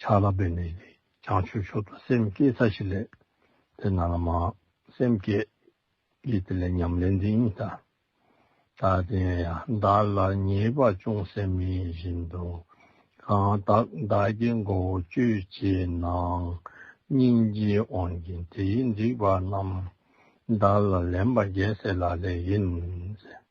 ཆགས་ལ་འབད་ནས་ཀྱང་ཆོས་ཕྱོགས་དང་སེམས་བསྐྱེད་ཚ་ཞིག་ལས་དེ་ན་ལ་མ། སེམས་བསྐྱེད་ཀྱི་དེ་ལས་ཉམས་ལེན་འདི་ཉིད་ད་ལྟར་བསྟན་ཡང་བདག་ལ་ཉེས་པ་ཅུང་ཟད་མེད་བཞིན་དུ། གང་དག་བདག་གི་མགོ་བོ་གཅོད་བྱེད་ནའང་སྙིང་རྗེ་དབང་གིས་དེའི་འགྲིགས་པ་རྣམས་བདག་ལ་ལན་པ་རྒྱལ་སྲས་ལ་ལས་ཡིན།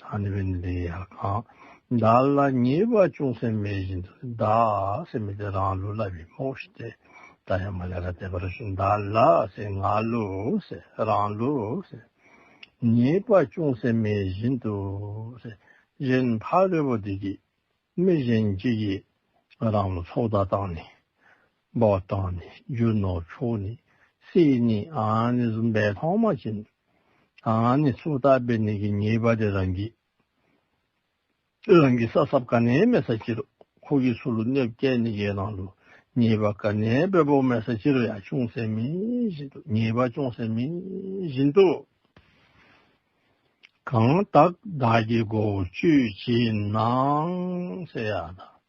ད་ནི་བན་དེ་ཡང་གང་བདག་ལ་ཉེས་པ་ཅུང་ཟད་མེད་བཞིན་དུ་བདག་སེམས་དེ་རང་ལུས་བསླབ་པའི་རྨོངས་ཤིག་སྟེ། ད་ཡང་མ་ལས་ལ་དད་པ་རུ་ཤིག་བདག་ལ་སེམས་ང་ལུས་རང་ལུས། ཉེས་པ་ཅུང་ཟད་མེད་བཞིན་དུ། གཞན་ཕ་རོལ་པོ་དེ་སྐྱེས་མི་གཞན་གྱིས་རང་ལ་ཚོགས་བདག་བཏང་ནས། སྦག་བཏང་ནས་རྒྱུ་ནོར་ཕྱོགས་ནས་བསྲེས་ནས་ཨང་ནི་བཟུང་པའི་ལྷག་མ་བྱིན། ཨང་ནི་སོ་བཏགས་པའི་ནི་གི་ཉེས་པ་དེ་རང་གིས། རང་གིས་ས་སྲབ་ག་ནས་མེ་ས་ཅི་རུ་ཁོ་གིས་སུ་ལུ་ནེབ་སྐྱེས་ནི་གའི་ནང་དུ་ཉེས་པ་ག་ནས་པའི་བོག་མེ་ས་ཅི་རུ་ཡང་ཅུང་ཟད་མིན་བཞིན་དུ་ཉེས་པ་ཅུང་ཟད་མིན་བཞིན་དུ། གང་དག་བདག་གི་སྒོ་བཅུའི་བྱིན་ནང་གསལ་ཡང་དང།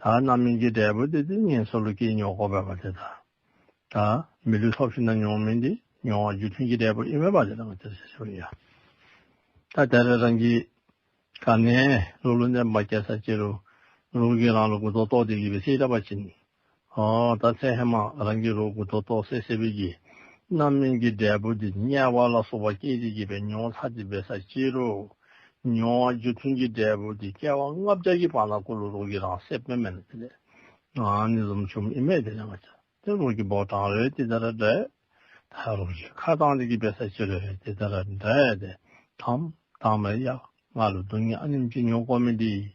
ད་རྣམ་སྨིན་གྱི་འབྲས་བུ་དེ་ཏིང་ངེ་འཚོ་ལུས་ཀྱི་མྱོ་སྒོ་བས་པ་དེ་དང། ད་མི་ལུས་ཐོབ་ཤིང་ན་མྱོང་མིན་དེ་མྱོང་བ་རྒྱུ་མཐུན་གྱི་འབྲས་བུ་དབྱིབས་མེད་པ་དེ་དང་དེར་བྱེད་ཆོག་ཡ། ད་དེར་རང་གིས་ག་ནས་ལུགས་ལུང་བསྟན་པ་སྐྱེ་ས་སྐྱེ་རུང་ལུགས་ཀྱིས་རང་ལུགས་ཀུན་རྫོགས་རྟོགས་དེ་གྱིས་པའི་སྲིད་རགས་པ་བྱིན་ད་ཚེ་ཧེ་མ་རང་གི་རོ་གུ་དོ་ཏོག་སེ་སེ་བུད་ཀྱིས། རྣམ་སྨིན་གྱི་འབྲས་བུ་འདི་དམྱལ་བ་ལ་སོགས་པ་སྐྱེ་འཆི་བགྱིད་པའི་མྱོང་བ་ཚར་གཅིག་འབད་ས་ཅི་རུ། མྱོང་བ་རྒྱུ་མཐུན་གྱི་འབྲས་བུ་འདི་སྐྱེ་བ་ལྔ་བརྒྱ་གྱི་བར་ན་བསྐུར་ལུགས་རོ་གི་རང་སྲེད་དཔེ་མེད་ན་དེ་ལས་ནི་ཟོམ་ཆུམ་དབྱིབས་མེད་དེ་ལས་མ་བྱ་སྟེ་རོ་གི་བོགས་གྲང་རེ་དེ་ལྟར་འདྲེས། ད་རོ་གི་ཁ་གཙང་དེ་གྱིས་འབད་ས་ཅི་རུ་དེ་ལྟར་འདྲེས་ཏེ། དམ་དང་མེ་ཡ་ང་ལ་སྡུག་བསྔལ་སྙོམས་ཅི་མྱོང་ཀོ་མེ་འདི།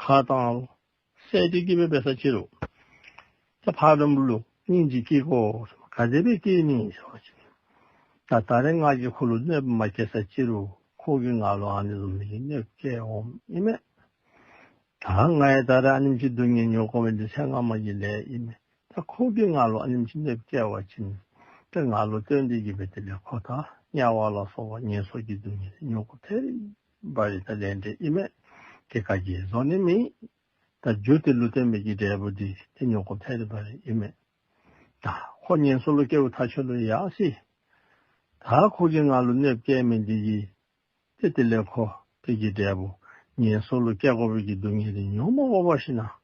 ཁ་དང། གསལ་བྱེད་སྐྱེས་པའི་བེ་སར་ཕྱི་རུ། ལྷ་ཕག་འགྲམ་བུ་ལུག་སྙིང་རྗེ་སྐྱེས། གོ་ཁ་འདེབས་པའི་སྐྱེས་གཉིས་ཞེས་བྱ་བ་ཅན། ད་རེ་སྔགས་ཀྱི་འཁོར་ལོ་གནོད་པ་མ་སྐྱེས་སར་ཕྱི་རུ། ཁུག་གི་ང་ལོ་ཨ་ནི་ལོ་མི་ཡི་གནོད་སྐྱེལ་འོང་ཨི་མེད། ད་ང་ཡི་ད་རེ་ཨ་ནིམ་གྱི་སྡུག་བསྔལ་མྱོང་གོ་བའི་འདི་ཚེ་སྔ་མ་ཡི་ལས་ཨི་མེད། ད་ཁུག་གི་ང་ལོ་ཨ་ནིམ་གྱི་གནོད་སྐྱེལ་བ་ཅན། ད་ང་ལོ་སྟོན་འདི་ཀྱི་བེ་དེ་ལས་ཁོ་དང་དམྱལ་བ་ལ་སོགས་པ་ངན་སོགས་ཀྱི་སྡུག་བསྔལ་མྱོང་གོ་ཐལ། བ་ཡི་ད་ལན་འདྲེ་ཨི་མེད། དེ་ག་གི་བཟོ་ནི་མིན། ད་རྒྱུ་དེ་ལུས་རྟེན་མེད་ཀྱི་འབྲས་བུ་འདི་དེ་ཉོ་གོ་ཐལ་བ་རེད་ཨི་མེད། ད་ཁོ་ཉན་སོ་ལོ་སྐྱེ་བོ་ཐ་ཆོད་ལོ་ཡག་སྲིད། ད་ཁོ་གི་ང་ལོ་གནོད་བསྐྱལ་མིན་འདི་ཡི། དེ་དེ་ལས་ཁོ་དེ་གི་འབྲས་བུ་ཉན་སོ་ལོ་སྐྱེ་གོ་བོད་ཀྱི་སྡུག་བསྔལ་དེ་ཉོ་མ་གོ་བ་ཤི་ན།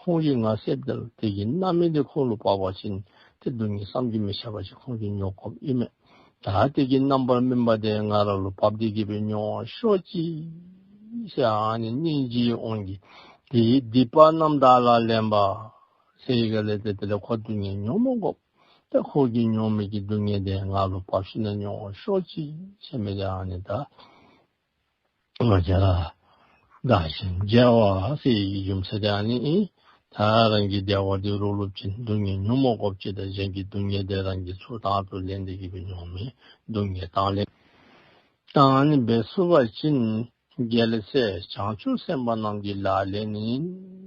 ཁོང་གིས་ང་སེར་དེ་ལ་དེ་ཡིན་རྣམ་སྨིན་དེ་ཁོང་ལ་བབས་པ་བཞིན་དེ་སྡུག་ཉེས་བསམ་གྱིས་མི་ཁྱབ་པ་ཞིག་ཁོང་གིས་མྱོང་གོམས་ཨེ་མེད། ད་དེ་གྱི་རྣམ་པར་སྨིན་པ་དེ་ང་རང་ལ་བབས་ཏེ་སྐྱིད་པའི་མྱོང་བ་ཤོར་ཅི། ཞེས་ཨ་ནེ་སྙིང་རྗེའི་དབང་གིས་དེའི་སྡིག་པ་རྣམས་དག་ལ་ལན་པ། སེར་ཡི་གེ་ལས་དེ་དེ་ལས་ཁོ་སྡུག་ཉེས་མྱོང་མ་གོམས་པས་ཁོང་གིས་མྱོང་མེད་ཀྱི་སྡུག་ཉེས་དེ་ང་ལ་བབས་ཤེས་ན་མྱོང་བ་ཤོར་ཅི་ཞེས་སྨྲས་ཏེ་ཨ་ནེ་ད་རྒྱལ་བ་དགའ་ཞིང་རྒྱལ་བ་སྲས་ཀྱི་ཡུམ་ས་སྐྱ་ནི། ད་རང་གི་བདེ་བ་དེ་རུ་སློབ་ཅིང་སྡུག་བསྔལ་ཉོན་མོངས་སྐོབ་བྱེད་དང་གཞན་གྱི་སྡུག་བསྔལ་དེ་རང་གི་ཚུལ་དག་ཏུ་ལེན་ཏེ་གྱིས་པའི་མྱོང་མེད་སྡུག་བསྔལ་དང་ལེན། དང་ནི་བའི་བསུ་བ་བྱིན། རྒྱལ་སྲས་བྱང་ཆུབ་སེམས་དཔའ་རྣམས་ཀྱི་ལ་ལས་ནི།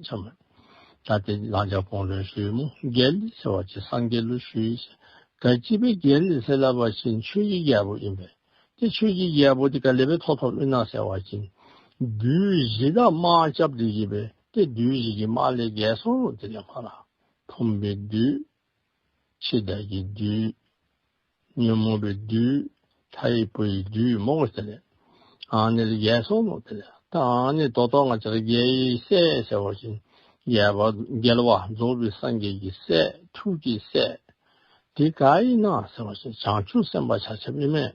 བྱམས་པ་ད་སྟེ་བླང་བྱ་སྤོང་རེ་ཞུས་མོ་རྒྱལ་ལི་སེ་བ་ཅི་སངས་རྒྱས་ལུ་ཞུས། ག་སྐྱིད་པའི་རྒྱལ་ལི་སེ་ལ་བ་བྱིན་ཆོས་ཀྱི་རྒྱལ་པོ་ཡིན་པས། ཀྱེ་ཆོས་ཀྱི་རྒྱལ་པོ་དེ་ཀ་ལེ་པའི་ཐོག་ཐོག་མི་སྣང་གསལ་བ་བྱིན། བདུད་བཞི་དག་དམག་ལྕགས་བདུད་བཞི་པའི་སྟེ་བདུད་བཞི་ཀྱི་དམག་ལས་བརྒལ་སོང་རུང་དེ་ལས་མ་ལགས། འཐུམས་པའི་བདུད། འཆི་བདག་གི་བདུད། ཉོན་མོངས་པའི་བདུད། ལྷ་ཡི་བུ་ཡི་བདུད་མོ་ངོ་དེ་ལས། ཨང་ནི་ལས་བརྒལ་སོང་རུང་དེ་ལས་ད་ཨང་ནི་རྡོ་ཐོག་ང་ཅག་རྒྱལ་ཡི་སྲས་གསལ་བ་བྱིན། རྒྱལ་བ་རྒྱལ་བ་རྫོགས་པའི་སངས་རྒྱས་ཀྱི་སྲས་ཐུགས་ཀྱི་སྲས། འདི་ཀ་ཡིན་ན་ཟེར་བ་བཞིན་བྱང་ཆུབ་སེམས་དཔའ་བྱ་བྱེད་མི་དམན་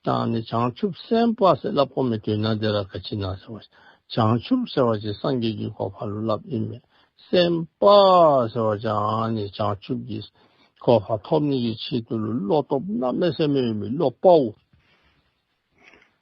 དང་ནི་བྱང་ཆུབ་སེམས་དཔའ་སེམས་བསླབ་གོ་མི་ཐོས་ན་འདི་ར་ག་ཅི་ན་ཟེར་བ་བཞིན་བྱང་ཆུབ་ཟེར་བ་བཞིན་སངས་རྒྱས་ཀྱི་གོ་འཕང་ལུས་བསླབ་ཡིན་མོད་སེམས་དཔའ་ཟེར་བ་བཞིན་ནི་བྱང་ཆུབ་ཀྱི་གོ་འཕང་ཐོབ་ནུས་ཀྱི་ཆེད་དུ་བློ་སྟོབས་རྣམས་མེད་སེམས་མེད་ཡོད་མི་བློ་དཔའ་བོ།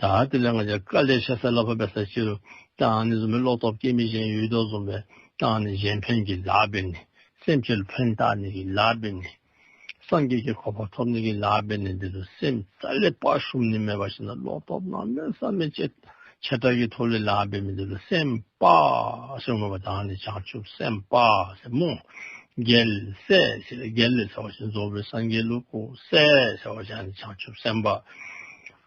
ད་དེ་ལས་ང་ཅག་བཀའ་ལས་ཤ་ཟ་ལ་བབ་པའི་ས་ཕྱི་རུ་རྟའང་ནི་བཟོ་མི་ལོག་རྟོག་སྐྱེ་མི་གཞན་ཡུལ་རྟོག་བཟོ་མི་རྟའང་ནི་གཞན་ཕན་གྱི་ལག་པས་ནི་སེམས་ཕྱི་རུ་ཕན་རྟའང་ནི་གྱི་ལག་པས་ནི་སངས་རྒྱས་ཀྱི་གོ་འཕང་ཐོབ་ནི་གྱི་ལག་པས་ནི་འདི་རུ་སེམས་རྩ་ལས་དཔའ་ཞུམ་ནི་མེད་པ་བཞིན་ནོ་ལོག་རྟོག་རྣམ་སྨིན་བསམ་མི་བྱེད་བྱེ་བྲག་གི་ཐོབ་ལས་ལག་པས་ནི་འདི་རུ་སེམས་དཔའ་ཞེས་བསྔོ་བ་དང་ནི་བྱང་ཆུབ་སེམས་དཔའ་ཞེས་སྨོན། རྒྱལ་སྲས་ཞེས་རྒྱལ་ལས་ཟེར་བ་བཞིན་རྫོགས་པའི་སངས་རྒྱས་ཀླུ་གོ་སྲས་ཟེར་བ་བཞིན་ནི་བྱང་ཆུབ་སེམས་དཔའ།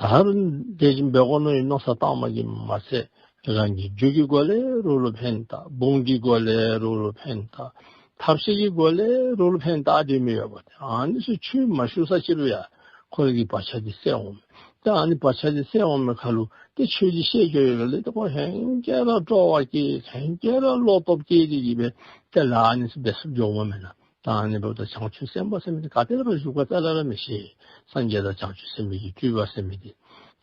དར་དེ་བཞིན་པའི་དབོ་ནོ་ཡི་ནོ་ས་སྟག་མ་གི་མ་ཚད་རང་གི་རྒྱུད་ཀྱི་གོ་ལའི་རུ་ལུ་འཕན་དག་འབུམ་གྱི་གོ་ལའི་རུ་ལུ་འཕན་དག་ཐབས་ཤེས་ཀྱི་གོ་ལའི་རུ་ལུ་འཕན་དག་དེ་མི་ཡོད་པ་དེ་ཨཱ་ནི་སུ་ཆུད་མ་ཞུགས་ས་ཕྱི་རུ་ཡང་ཁོ་རང་གི་བག་ཆགས་དེ་སད་འོང་མོད་དེ་ཨཱ་ནི་བག་ཆགས་དེ་སད་འོང་མོད་ཁ་ལུ་དེ་ཆོས་ཀྱི་ཤེས་བརྗོད་ཡོད་པའི་ལས་དེ་ཁོ་ཧན་རྒྱལ་ར་སྤྲོ་བ་སྐྱེས་ཧན་རྒྱལ་ར་བློ་སྟོབས་སྐྱེས་དེ་ཡིན་པས་དེ་ལ་ཨཱ་ནི་སུ་བདེ་སོགས་འཇོག་མ་མེད་ན་དང་ནི་བབ་དང་བྱང་ཆུབ་སེམས་དཔའ་སེམས་མེད་ག་དེ་ལ་བར་གཞུག་པ་ཙཱ་ལ་ལ་མི་ཤེས་སངས་རྒྱས་དང་བྱང་ཆུབ་སེམས་མེད་ཀྱི་སྤྲུལ་པ་སེམས་མེད་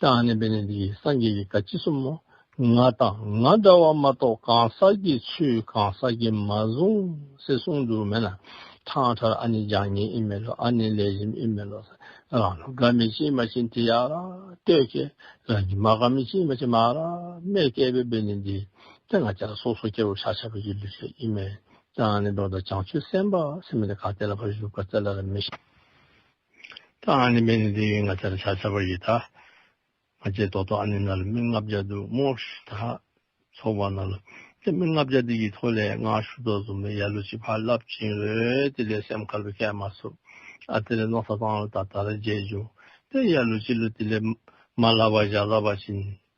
དང་ནི་བས་ནི་འདི་ཡིས་སངས་རྒྱས་ཀྱི་བཀའ་ཅི་གསུང་ངོ། ང་དང་ང་འདྲ་བ་མ་གཏོགས་གང་ཟག་གི་ཚུལ་གང་ཟག་གིས་མ་བཟུང་ཟེར་གསུང་འདུག་མེད་ན་ཐང་ཁྲར་ཨ་ནི་ལྗང་ཉེ་ཨི་མེད་ལོ་ཨ་ནི་ལས་རིམ་ཨི་མེད་ལོ་ཟེར་རང་ལ་དགའ་མི་ཅི་མ་ཅི་འདི་ཡག་ལ་ལྟོས་ཀྱི་རང་གིས་མ་དགའ་མི་ཅི་མ་ཅི་མ་ར་མེད་སྐད་པའི་བས་ནི་འདི་ལྟ་ང་ཅག་སོ་སོ་སྐྱེ་བོ་ཤ་ཆ་བ་ཡི་ལུས་ཤ་ཨི་མེད་ཀྱང་ནི་འགྲོ་དང་བྱང་ཆུབ་སེམས་དཔའ་སེམས་མེད་ན་གང་དེ་ལ་བར་གཞུག་པར་བཙལ་ལ་ལ་མི་བྱེད། ཀྱང་ནི་མེད་ནས་འདི་ཡིན་ང་ཚ་ལ་བྱ་བྱ་བར་ཡི་དྭགས་མ་བྱེད་དོ་དོ་ཨ་ནི་ན་ལ་མི་ལྔ་བརྒྱ་དུ་མོ་དག་ཚོགས་པ་ན་ལ་དེ་མི་ལྔ་བརྒྱ་དེ་ཡི་ཐོག་ལས་སྔགས་ཞུ་དོ་གཟུངས་མའི་ཡ་ལུ་ཅི་བར་བསླབ་ཅིང་རོལ་ཏེ་ལས་སེམས་དཀར་པོའི་སྐད་མ་སུབ་ཨ་དེ་ལས་ནོག་ས་བཏང་ལ་ད་ད་ར་རྗེས་འཇུག་པའི་ཡ་ལུ་ཅི་ལུ་དེ་ལས་མ་ལྷ་བ་བཞག་ལ་བ་ཅི་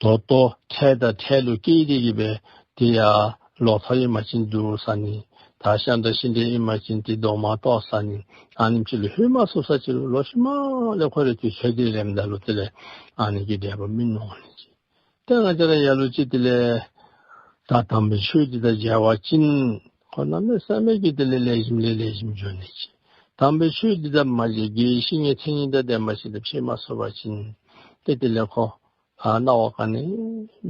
མདོ་སྟོད་ཁྲལ་དང་ཁྲལ་ལུགས་སྐད་ཡིག་གི་བས་དེ་ཡ་ལོག་ཐོག་ཡིན་མ་ཅིན་འདུག་ས་ནི་ད་ཤ་འདྲ་ཤི་འདྲ་ཡིན་མ་ཅིན་དེ་མདོག་མ་གཏོགས་ས་ནི་ཨ་ནི་ཕྱི་ལ་ཧུད་མ་སོ་ས་ཅི་ལོ་ལོ་ཤི་མ་ལས་ཁོ་རེ་དུས་ཤ་དེ་རེ་མི་འདའ་ལོ་དེ་ལས་ཨ་ནི་གི་འདྲ་པོ་མི་ནོ་ནི་ཅི་དེ་ང་ཅི་ར་ཡ་ལོ་ཅི་དེ་ལས་ད་དམ་པའི་ཆོས་དེ་དང་འཇལ་བ་ཅིན། ཁོ་ན་མེད་བསམ་མེད་ཀྱི་དེ་ལས་ལས་བཞིན་ལས་ལས་བཞིན་འབྱུང་ནི་ཅི། དམ་པའི་ཆོས་འདི་དག་མ་བྱས་དགེ་བའི་བཤེས་གཉེན་མཚན་ཉིད་འདི་དེ་མ་བྱས་ཏེ་ཕྱིར་མ་སོད་པ་བྱིན་ཏེ་དེ་ལས་ཁོ། ན་བ་གང་ནི།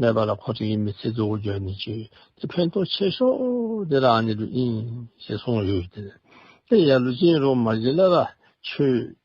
མེད་པ་ལ་ཁོ་ཐག་ཡིན་མི་ཚེ་རྫོགས་སྐུ་འབྱོན་ནི་ཅི། དེ་ཕན་ཐོགས་ཆེ་ཤོག་དེ་རང་ནི་ལུས་ཡིན། ཞེས་གསུངས་ཡོད་དེ། དེ་ཡང་ལུས་ཅན་རུང་མ་བྱིན་ལ་ལ་ཆོས།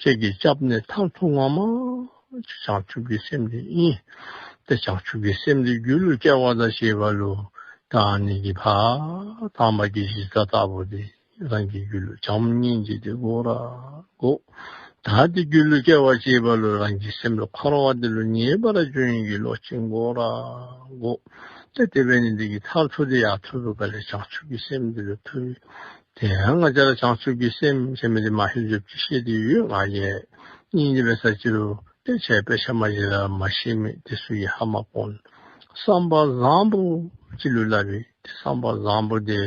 ཁྱེད་ཀྱིས་སྐྱབས་ནི་མཐར་ཐུག་ངང་མང། བྱང་ཆུབ་ཀྱི་སེམས་ནི་དབྱིངས། དེ་བྱང་ཆུབ་ཀྱི་སེམས་ནི་རྒྱུ་ལུས་སྐྱེ་བ་དང་ཞེས་པ་ལུས་དང་ནི་ཀྱི་བར་དྭངས་མ་ཀྱི་གཞི་རྩ་ལྟ་བུ་སྟེ་རང་གི་རྒྱུ་ལུས་བྱམས་སྙིང་རྗེ་སྟེ་སྒོ་ར་སྒོ། དང་སྟེ་རྒྱུ་ལུས་སྐྱེ་བ་ཅེས་པ་ལུས་རང་གི་སེམས་ལ་འཁོར་བ་འདི་ལོ་ཉེས་པར་སྦྱོར་ཡིན་གྱི་ལོག་ཅིང་སྒོ་ར་སྒོ། སྟེ་དེ་བས་ནི་འདི་ཀྱི་མཐར་ཐུག་དེ་ཡང་ཐུགས་ཀྱི་བཀའ་ལས་བྱང་ཆུབ་ཀྱི་སེམས་འདི་ལོ་ཐུགས། དེ་ཡང་ང་ཅག་ལ་བྱང་ཆུབ་ཀྱི་སེམས་ཅན་མེད་དེ་མ་ཤེས་འཇུག་ཅི་ཤེས་དེ་ཡོད་ང་ཡེ། སྙིང་རྗེ་བའི་ས་ཅི་རུ་སྟེ་བྱས་པའི་ཕྱག་མ་ཡི་ལ་མ་ཤེས་མེད་དེ་སུ་ཡི་ཧ་མ་ཀོན། བསམ་པ་བཟང་པོ་ཅི་ལུས་བསླབ་པའི་དེ་བསམ་པ་བཟང་པོ་དེ་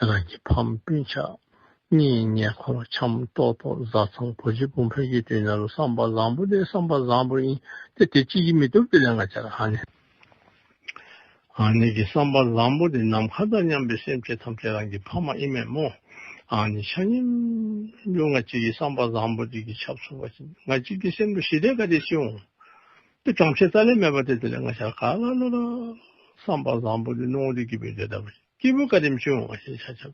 རང་གི་ཕམ་སྤུན་ཆག་གཉིས་ཉེ་འཁོར་འཆམ་ཏོག་ཏོག་བཟའ་ཚང་བུ་རྗེ་དཔུང་ཕོན་ཆེ་དུས་ན་ལོ་བསམ་པ་བཟང་པོ་དེ་བསམ་པ་བཟང་པོ་ཡིན་ཏེ་དེ་ཅིས་ཀྱིས་མི་ཐུབ་དེ་ལས་ང་ཅག་ལ་ཧ་ནས། ཨཱ་ནི་ཀྱི་བསམ་པ་བཟང་པོ་འདི་ནམ་མཁའ་ལྟར་མཉམ་པའི་སེམས་ཅན་ཐམས་ཅད་རང་གི་ཕ་མ་ཨི་མེད་མོ། ཨཱ་ནི་ཆ་སྙོམས་ལུས་ང་གཅིག་གི་བསམ་པ་བཟང་པོ་འདི་ཀྱི་ཆ་ཚུགས་པ་ང་གཅིག་གི་སེམས་ལུས་ཞི་བདེ་དགའ་བདེ་ཅི་འོང། དེ་གྲོང་ཁྱེར་ཙཱ་ལའི་མེད་པ་དེ་དེ་ལས་ང་ཤར་ག་ལ་ལ་ལ། བསམ་པ་བཟང་པོ་འདི་སྣང་བ་འདི་སྐྱིད་པའི་འདོད་ཐབས་ཅི་འོང། སྐྱིད་པོ་དགའ་ལྡན་ཅི་འོང་བ་ཞེས་བྱ།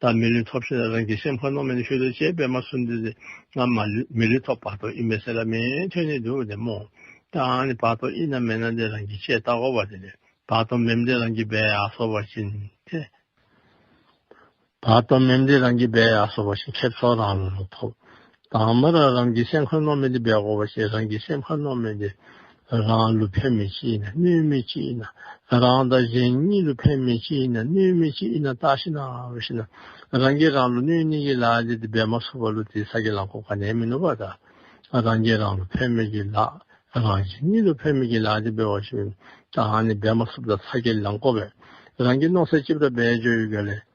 ད་མི་ལུས་ཐོབ་ཤེས་ན་རང་གི་སེམས་ཁོ་ནོངས་མེད་ནས་ཤུལ་དུ་བྱེད་པས་མ་སུ་འདི་ང་མི་ལུས་ཐོབ་བར་དོ་ཨི་མེད་ཟེར་ལ་མེ་ཐོན་ནི་འདུག་དེ་མོ། དང་ནི་བར་དོ་ཨི་ན་མེ་ན་འདི་རང་གི་ཆེས་ལྟ་གོ་བ་དེ་ནི་བར་དོ་མེམ་འདི་རང་གི་བས་ཨ་སོ་བ་བཞིན་དེ། བར་དོ་མེམ་འདི་རང་གི་བས་ཨ་སོ་བ་བཞིན་ཁེབས་སོགས་རང་ལུས་ལ་ཐོབ་དང་མ་ར་རམ་གྱི་སེམས་ཁ་ནོར་མེད་དེ་བས་གོ་བ་ཤེས་རང་གི་སེམས་ཁ་ནོར་མེད་དེ། རང་ལུས་ཕན་མེད་ཅི་ཡིན་ན་གནོད་མེད་ཅི་ཡིན་ན། རང་དང་གཞན་གཉིས་ལུས་ཕན་མེད་ཅི་ཡིན་ན་གནོད་མེད་ཅི་ཡིན་ན་བརྟགས་ཤེས་ན་འོས་ཤེས་ན། རང་གིས་རང་ལུས་གནོད་ནི་གི་ལགས་ཏེ་དེ་བས་མ་སོགས་པ་ལུས་དེའི་ས་དགེ་ལངས་གོ་ག་ནས་མི་ནོར་བ་དང། རང་གིས་རང་ལུས་ཕན་མེད་གི་ལགས། རང་གཞན་གཉིས་ལུས་ཕན་མེད་གི་ལགས་ཏེ་བས་བ་ཞིག་དང་ནི་བས་མ་སོགས་པ་དང་ས་དགེ་ལངས་གོ་བས། རང་གིས་ནོར་སའི་ལྕིབས་ར་བས་འཇོག་ཡོད་ག་ལས།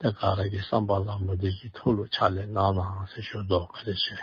ཏེ་ག་རེ་གི་བསམ་པ་ལ་མུ་སྟེགས་ཀྱི་ཐོལ་གླུ་ཕྱག་ལེན་གནང་ནའང་ཟེར་ཞོར་དུ་ག་རེ་བྱས།